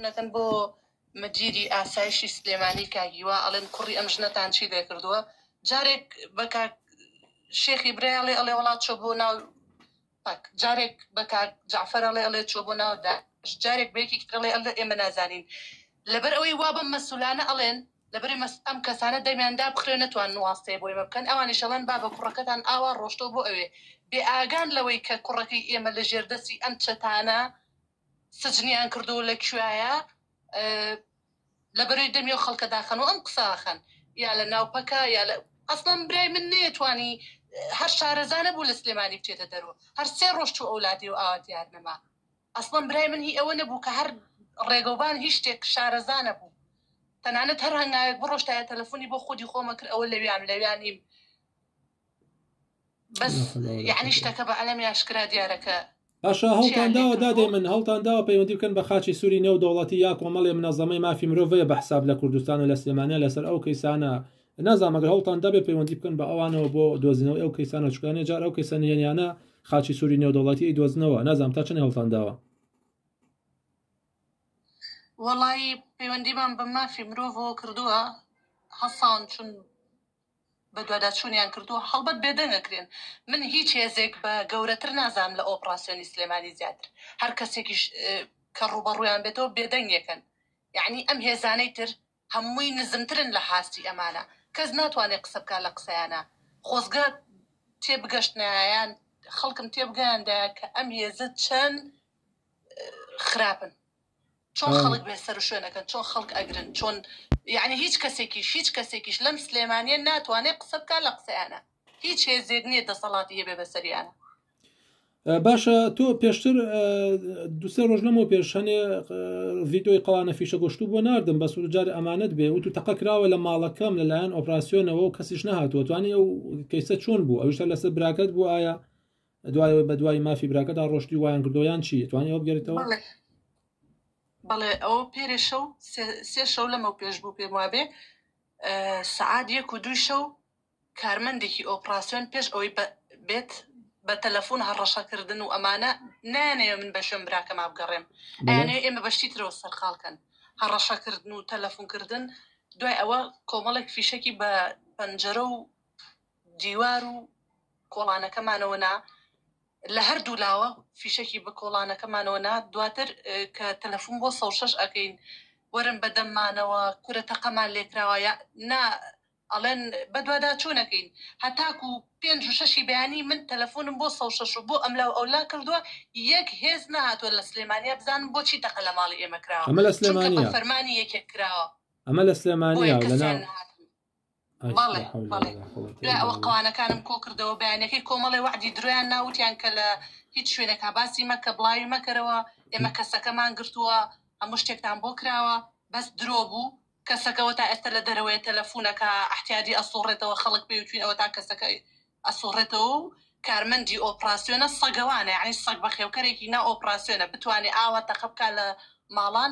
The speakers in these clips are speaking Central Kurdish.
نەکەن بۆ مدیری ئاسایشی سلێمانی کاک هیوا ئەڵێن کوڕی ئەم ژنەتان چی لێ کردووە جارێک بە کاک شێخی برایڵێ ئەڵێ وڵات چۆ بۆ ناو پاک جارێک بە کاک جعفر ئەڵێ ئەڵێ چۆ بۆ ناو داعش جارێک بەیەکی ترڵێ ئەڵێ ئێمە نازانین لەبەر ئەوەی وا بەم مەسولانە ئەڵێن لەبەری مەس ئەم کەسانە دەمیاندا بخرێ نەتوان نواستەیە بۆ ئێمە بکەن ئەوانی شەڵەن با بە کوڕەکەتان ئاوا ڕۆشتۆ بۆ ئەوێ بێ ئاگان لەوەی کە کوڕەکەی ئێمە لە ژێردەسی ئەم چەتانە سجنیان کردوو لە کوێیە لە بەرەی دەمی و خەڵکە داخەن و ئەم قساخەن یا لە ناوپەکە یا لە ئەسڵم برای من نەیەتوانی هەر شارەزانە بوو لە سلێمانی بچێتە دەرو هەر سێ ڕۆژ چوو ئەولادی و ئاوا دیار نەما ئەسڵم برای من هی ئەوە نەبوو کە هەر ڕێگەوبان هیچ شتێک شارەزانە بوو تەنانەت هەر هەنگاوێک بڕۆشتایە تەلەفۆنی بۆ خودی خۆمە کرد ئەوە لەویان لەویانیم بەس یعنی شتەکە بە عەلەمی ئاشکرا دیارە کە باشە هەڵتان داوە دادێ من هەڵتان داوە پەیوەندی بکەن بە خاچی سووری نێو دەوڵەتی یا کۆمەڵێ منەزەمەی مافی مرۆڤەیە بە حساب لە کوردستان و لە سلێمانە لەسەر ئەو کەیسانە نازانمەگە هەڵتان دەبێ پەیوەندی بکەن بە ئەوانەوە بۆ دۆزینەوە ئەو کەیسانە چکانە جار ئەو کەیسە نێنیانە خاچی سووری نێو دەوڵەتی دۆزنەوە نازانام تا چنی هەڵتان داوە وڵی پەیوەندیمان بە مافی مرۆڤەوە کردووە هەسان چون بەدواداچوونیان کردووە، هەڵبەت بێدەنگ ئەکرێن، من هیچ هێزێک بە گەورەتر نازانم لە ئۆپڕاسیۆنی سلێمانی زیاتر، هەر کەسێکیش کە ڕووبەڕوویان بێتەوە بێدەنگیەکەن، یەعنی ئەم هێزانەی تر هەمووی نزمترن لە هاستی ئەمانە، کەس ناتوانێت قسە بکات لە قسەیانا، خۆزگە تێبگەشتنایایان، خەڵکم تێبگەیاندایە کە ئەم هێزە چەند خراپن. چۆن خەڵک بێ سەر و شوێن ئەکەن چۆن خەڵک ئەگرن چۆن یانی هیچ کەسێکیش هیچ کەسێکیش لەم سلێمانیە ناتوانێت قسە بکە لە قسەیانە هیچ هێزێک نییە دەسەڵاتی هەبێ بەسەریانە باشە تۆ پێشتر دوسێ ڕۆژ لەمەوە پێش هەنێ ڤیدۆی قەوانە فیشە گۆشتو بۆ نردم بە سوجار ئەمانەت بێ وتو تەقە کراوە لە ماڵەکەم لەلایەن ئۆپراسسیۆنەوە و کەسیش نهاتوە توانانی ئەو کەیسە چۆن بوو ئەوشتا لەسەر براکەت بوو ئایا دوایەوە بە دوای مافی براکەدا ڕۆشتی وایان کردو یان چی توانانی ئەوە بگەریتەوە بەڵێ ئەو پێرێ شەو سێ شەو لەمە پێش بوو پێم وابێ سعاد یەک و دوی شەو کارمەندێکی ئۆپراسسیۆن پێش ئەوەی بێت بە تەلەفۆن هەڕەشەکردن و ئەمانە نانەیە من بە شوێن براکە ما بگەڕێم ئەیانەیە ئێمە بەشتی ترەوە سەرقالکەن هەڕەشەکردن و تەلەفۆنکردن دوای ئەوە کۆمەڵێک فیشەکی بە پەنجەرە و دیوار و کۆڵانەکەمانەوە نا، لە هەردوو لاوە فیشەکی بە کۆڵانەکەمانەوە نا، دواتر کە تەلەفون بۆ سەد و شەش ئەکەین وەرن بە دەممانەوە کورە تەقەمان لێکراوە یا نا ئەڵێن بەدواداچونەکەین هەتاکو پێنج و شەشی بەیانی من تەلەفونم بۆ سەد و شەش و بۆ ئەملاو ئەولا کردوە یەک هێز نەهاتوە لە سلێمانیە بزانم بۆچی تەقە لە ماڵی ئێمە کراوە ئەمە لە چونکە بە سلێمانیە فەرمانی یەکێک کراوە ئەمە لە سلێمانیە بۆیە و لە کەسیان ناو نەهاتن. بەڵێ بەڵێ دوای ئەوە قەوانەکانم کۆ کردەوە بەیانەکەی کۆمەڵێ وەعدی درۆیان نا وتیان کە لە هیچ شوێنێکا باسی مەکە بڵاوی مەکەرەوە ئێمە کەسەکەمان گرتووە هەموو شتێکتان بۆ کراوە بەس درۆ بوو کەسەکەەوە تا ئێستا لە دەرەوەی تەلەفونەکە احتیادی ئەسوڕێتەوە خەڵک پێوتوین ئەوە تا کەسەکە ئەسوڕێتەوە و کارمەندی ئۆپراسسیۆنە سەگەوانە یعنی سەگ بەخێوکەرێکی نا ئۆپراسسیۆنە بتوانێت ئاوا تەقە بکە لە ماڵان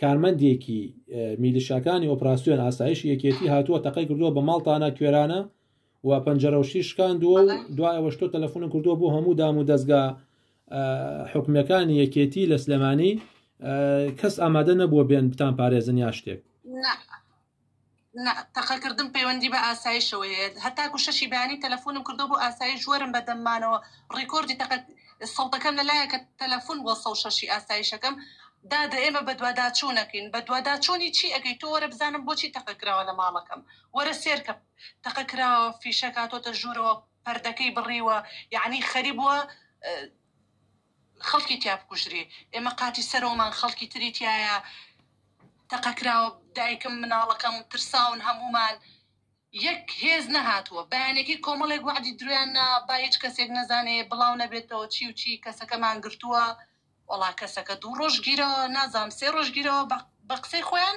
کارمەندێکی میلیشاکانی ئۆپراسسیۆن ئاسایش یەکێتی هاتووە تەقەی کردووە بە ماڵتانە کوێرانە و پەنجەرەوشی شکاندووە و دوای ئەوەش تۆ تەلەفۆن کردووە بۆ هەموو دام و دەستگا حکومەکانی یەکێتی لە سلێمانی کەس ئامادە نەبووە بێن بتان پارێزن یا شتێک نا تەقە کردن پەیوەندی بە ئاسایشەوە هەیە هەتاکو شەشی بەیانی تەلەفۆنم کردو بۆ ئاسایش وەرم بەدەم مانەوە ڕیکۆردی تەقە سەوتەکەم لەلایە کە تەلەفۆن بۆ سەو شەشی ئاسایشەکەم دادە ئێمە بەدواداچوونەکەین بەدواداچوونی چی ئەەکەی تۆ وەرە بزانم بۆچی تەقە کراوە لە ماڵەکەم وەرە سێرکە تەقە کراوە فیشەکاتۆتە ژوورەوە پردەکەی بڕیوە یعنی خەری بووە خەڵکی تیا بکوژری ئێمە قاتی سەرەوەمان خەڵکی تری تایە تەقەکراوە دایکم مناڵەکەم ترساون هەمومان یەک هێز نەهاتووە بەیانێکی کۆمەڵێک وعدی درویان نا با هیچ کەسێک نەزانێ بڵاو نەبێتەوە چی و چی کەسەکەمان گرتووە وەڵا کەسەکە دوو ڕۆژگیرەوە نازام سێ ڕۆژگیرەوە بە قسەی خۆیان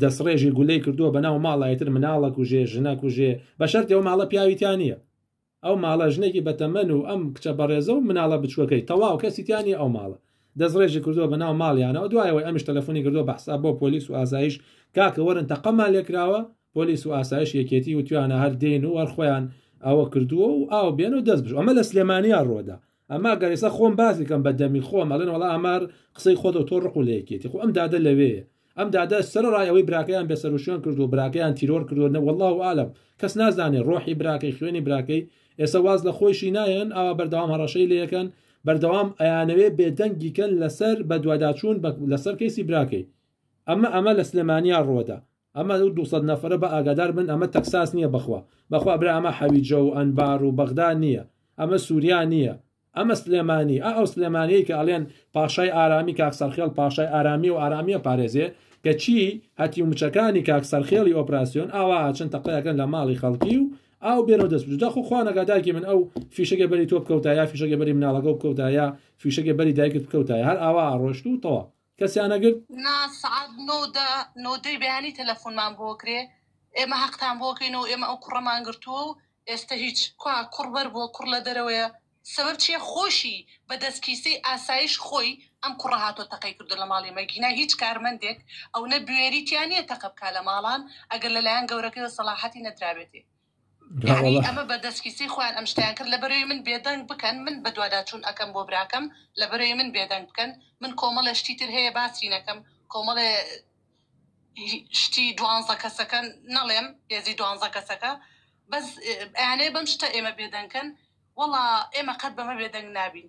دەسڕێژی گولەی کردووە بەناو ماڵای تر مناڵە کوژێ ژنە کوژێ بەشەرتی ئەو ماڵە پیاوی تیا نیە ئەو ماڵە ژنێکی بەتەمەن و ئەم کچە بەڕێزە و مناڵە بچووەکەی تەواو کەسی تیا نیە ئەو ماڵە دەسڕێژی کردووە بەناو ماڵیانەوە دوایەوەی ئەمیش تەلەفۆنی کردووە بە حساب بۆ پۆلیس و ئاسایش کاکە وەرن تەقەمان لێکراوە پۆلیس و ئاسایش یەکێتی و توانە هەر دێن و هەر خۆیان ئەوە کردووە و ئاو بێن و دەست بش ئەمە لە سلێمانیا ڕۆدا ئەما گەر ئێستا خۆم باسی کەم بە دەمی خۆم ئەڵێن وڵا ئامار قسەی خۆتەوە تۆ ڕق و لەیەکێتی خۆ ئەم دادە لەوێ ئەم دادە سەر ڕای ئەوەی براکەیان بێسەروشیان کرد و براکەیان تیرۆر کردو نەوەله و عالم کەس نازانێ ڕۆحی براکەی خوێنی براکەی ئێستا واز لە خۆیشی نایەن ئاوا بەردەوام هەڕەشەی لەکەن بەردەوام ئەیانەوێ بێدەنگیکەن لەسەر بەدواداچوون لەسەر کەیسی براکەی ئەمە ئەمە لە سلێمانیا ڕوەدا ئەمە ئەو دوو سەد نەفەرە با ئاگادار بن ئەمە تەکساس نیە بەخوا بەخوا برا ئەمە حەویجە و ئەنبار و بەغدا نیە ئەمە سوریا نیە ئەمە سلێمانی ئا ئەو سلێمانیەی کە ئەلێن پاشای ئارامی کاک سەرخێڵ پاشای ئارامیە و ئارامیە پارێزێ کە چی هەتی و مچەکانی کاک سەرخێڵی ئۆپراسیۆن ئاوا ئاچن تەقەیەکەن لە ماڵی خەڵکی و ئاو بێنەوە دەست بجدا خۆ خوا نەگاداکی من ئەو فیشەگە بەری تۆ بکەوتایە فیشەگە بەری مناڵەکە بکەوتایە فیشەگە بەری دایکت بکەوتایە هەر ئاوا ئاڕۆشت و تەوا کەسیان نەگرت؟ نا سەعات نۆ و دە نۆ دەی بەیانی تەلەفونمان بۆ کرێ ئێمە هەقتان بۆ کەینەوە ئێمە ئەو کوڕەمان گرتووە و ئێستە هیچ کوا کوڕ بەر بووە کوڕ لە دەرەوەیە سەبەب چییە خۆشی بە دەست کیسەی ئاسایش خۆی ئەم کوڕە هاتۆ تەقەی کردو لە ماڵی مەگینا هیچ کارمەندێک ئەونە بوێریتیان نییە تەقە بکا لە ماڵان ئەگەر لەلایەن گەورەکەیەوە سەڵاحەتی نەدرابێتێ یانی ئەمە بە دەسکیسی خۆیان ئەم شتەیان کرد لە بەرەوی من بێدەنگ بکەن من بە دواداچوون ئەکەم بۆ براکەم لە بەرەوی من بێدەنگ بکەن من کۆمەڵە شتی تر هەیە باسی نەکەم کۆمەڵێ شتی دوانزە کەسەکە نەڵێم هێزی دوانزە کەسەکە بەس ئەیانەیە بەم شتە ئێمە بێدەنکەن وەڵا ئێمە قەت بەمە بێدەنگ نابین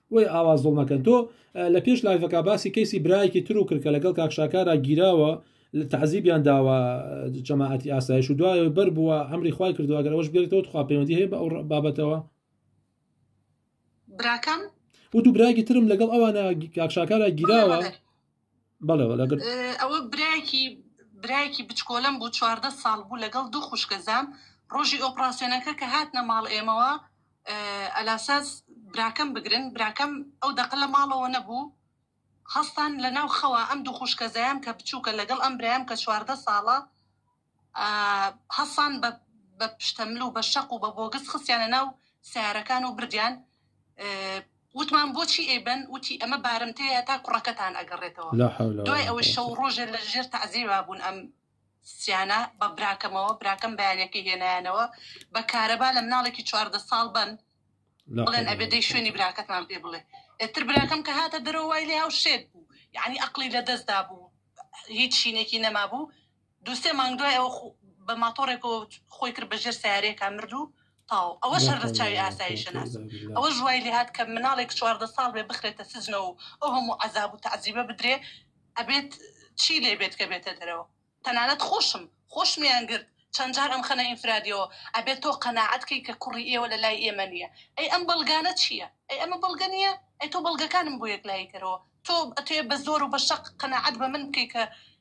بۆیە ئاوا زوڵ مەکەن تۆ لە پێش لایڤەکە باسی کەیسی برایەکی تر و کرد کە لەگەڵ کاک شاکارا گیراوە لە تەعزیبیان داوە جەماعەتی ئاسایش و دوایەوە بەر بووە ئەمری خوای کردو ئەگەر ئەوش بێتەوە تخوا پەیوەندی هەیە بە ئەو بابەتەوە براکەم و دوو برایەکی ترم لەگەڵ ئەوانە کاک شاکارا گیراوە بەڵێ وەڵا گرت ئەوە برایەکی برایەکی بچکۆلم بوو چواردە ساڵ بوو لەگەڵ دوو خوشکەزام ڕۆژی ئۆپراسیۆنەکە کە هاتنە ماڵ ئێمەوە ئەلاساس براکەم بگرن براکەم ئەو دەقە لە ماڵەوە نەبوو هەستان لە ناو خەوە ئەم دوو خوشکەزایان کە بچووکە لەگەڵ ئەم برایم کە چواردە ساڵە هەسان بە بە پشتەمل و بە شەق و بە بۆگس خستیانە ناو سیارەکان و بردیان وتمان بۆچی ئێبن وتی ئەمە بارمتەیە تا کوڕەکەتان ئەگەڕێتەوە لا حول ولا دوای ئەوەی قوة. شەو ڕۆژێ لە ژێر تەعزیبا بوون ئەم سیانە بە براکەمەوە براکەم بەیانەکەی هێنایانەوە بە کارەبا لە مناڵێکی چواردە ساڵ بن لا بڵێن حول ئەبێ ولا دەی قوة. شوێنی براکەتمان پێ بڵێ ئێتر براکەم کە هاتە دەرەوە وای لێ هاو شێت بوو یعنی ئەقلی لە دەستدا بوو هیچ شینێکی نەما بوو دوو سێ مانگ دوای ئەوە خو بە ماتۆڕێکەوە خۆی کرد بە ژێر سیارەیەکە مرد و تاو ئەوە شەر لە چاوی ئاسایشە ناس ئەوە ژوای لێهات کە مناڵێک چواردە ساڵ بێ بخرێتە سجنەوە و ئەو هەموو عذاب و تعزیبە بدرێ ئەبێت چی لێ بێت کە بێتە دەرەوە تەنانەت خۆشم خۆشمیان گرت چەند جار ئەم خەنە ئینفرادیەوە ئەبێت تۆ قەنەعەت کەی کە کوڕی ئێوە لە لای ئێمە نییە ئەی ئەم بەڵگانە چییە ئەی ئەمە بەڵگە نییە ئەی تۆ بەڵگەکانم بۆ یەک لایکەرەوە تۆ ئەتێ بە زۆر و بە شەق قەنەعەت بە من بکەی کە